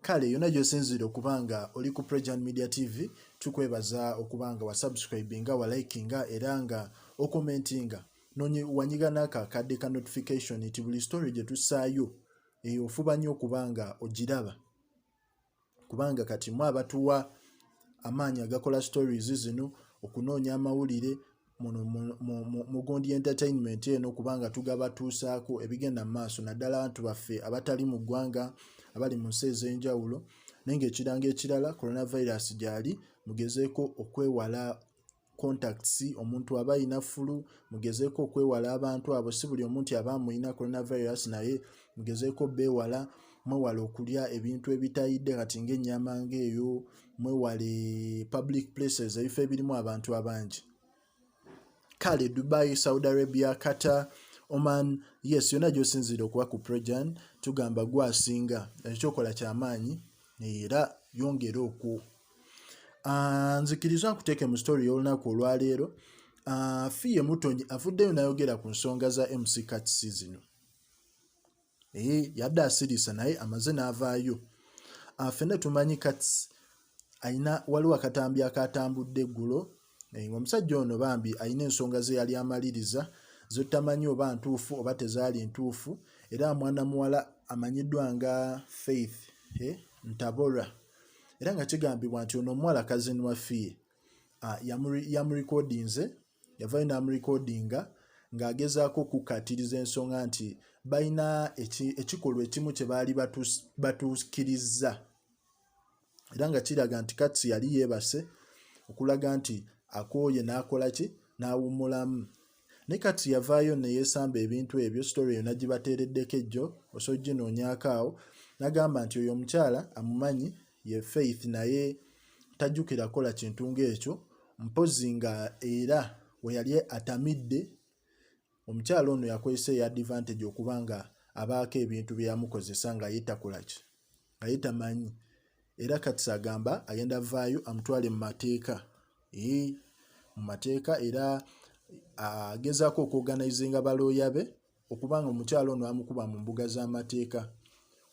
kale yona gyosinzire okuba nga oli ku prejan media tv tukwebaza okuba nga wasubscribinga walikinga era nga okomentinga wanyiga naka kadde ka notification nti buli story gyetusaayo eyo ofuba nnyo okuba nga ogiraba kubanga kati mu abatuwa amaanyi agakola stories zino okunoonya amawulire muno mugundi entertainment eno kubanga tugaba tuusaako ebigenda mu maaso naddala abantu baffe abatali mu ggwanga abali mu nsi ez'enjawulo naye ngaekiranga ekirala coronavirus gyali mugezeeko okwewala contacts omuntu aba ayina fulu mugezeeko okwewala abantu abo si buli omuntu aba amuyina coronavirus naye mugezeeko beewala mwewala okulya ebintu ebitayidde kati ngaennyama ngaeyo mwewale public places ebifo ebirimu abantu abangi kale dubai saudi arabia qatar oman yes yonna gyosinziire okuba ku projan tugamba gwasinga ekyokola kyamaanyi era yongere okwo ah, nzikiriza nkuteeke mu story y'olunaku olwaleero ah, fiye mutonyi avuddeyo nayogera ku nsonga za mc cats zino ee yadde asirisa naye amaze n'avaayo afena ah, tumanyi kats alina waliwo akatambi akatambudde eggulo eh, ngaomusajja ono bambi alina ensonga ze yali amaliriza zotamanyi oba ntuufu oba tezaali ntuufu era mwana muwala amanyiddwa nga faith eh, ntabora era nga kigambibwa nti ono omuwala kazini wafiye ah, yamurekodinze yavayo n'amurekodinga ng'agezaako okukkaatiriza ensonga nti balina ekikolwa ekimu kye baali batuukirizza era nga kiraga nti katsi yali yeebase okulaga nti akooye n'akola ki n'awummulamu ne katsi yavaayo ne yeesamba ebintu ebyo sitore eyo nagibateereddeko ejjo osojjinoonyaako awo nagamba nti oyo omukyala amumanyi ye faith naye tajjukira kola kintu ng'ekyo mpozzi nga era weyali atamidde omukyala ono yakozesa eya advantage okuba nga abaako ebintu byeyamukozesa nga ye takolaki nga ye tamanyi era katisa agamba agenda vaayo amutwale mu mateeka mu mateeka era agezaako okuoganizinga balooya be okuba nga omukyala ono amukuba mu mbuga z'amateeka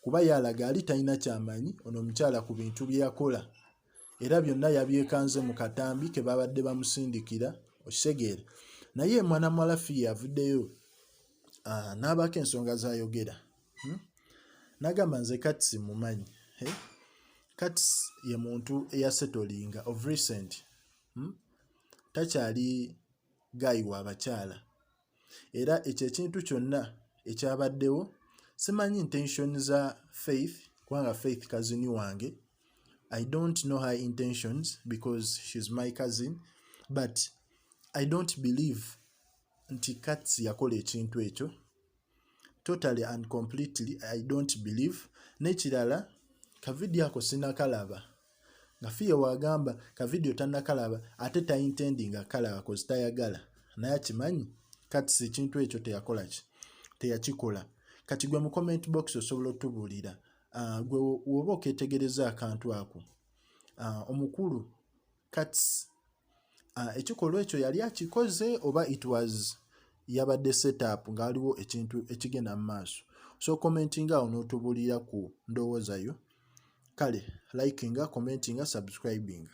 kuba yalaga ali talina kyamanyi ono omukyala ku bintu bye yakola era byonna yabyekanze mu katambi ke babadde bamusindikira okitegeera naye mwana muwala fiye avuddeyo ah, n'abaako ensonga zayogera hmm? nagamba nze kati simumanyi eh? kati ye muntu eyasetolinga of recent hmm? takyali gayi wa bakyala era ekyo ekintu kyonna ekyabaddewo simanyi intention za faith kubanga faith kazini wange i don't know her intentions because she's my cousin but i don't believe nti kats yakola ekintu ekyo totally and completely i don't believe nekirala kavidiyo ako sinakalaba nga fiya wagamba ka video tanakalaba ate taintendi nga kalaba kozi tayagala naye akimanyi kati si ekintu ekyo teyakola ki teyakikola kati gwe mu comment box osobola otubuulira ah, gwe woba oketegereza akantu ako ah, omukulu kats Ah, ekikolwa ekyo yali akikoze oba it was yabadde setup nga waliwo ekintu ekigenda mu maaso so commentinga awo n'otubuulira ku ndowooza yo kale likinga commentinga subscribinga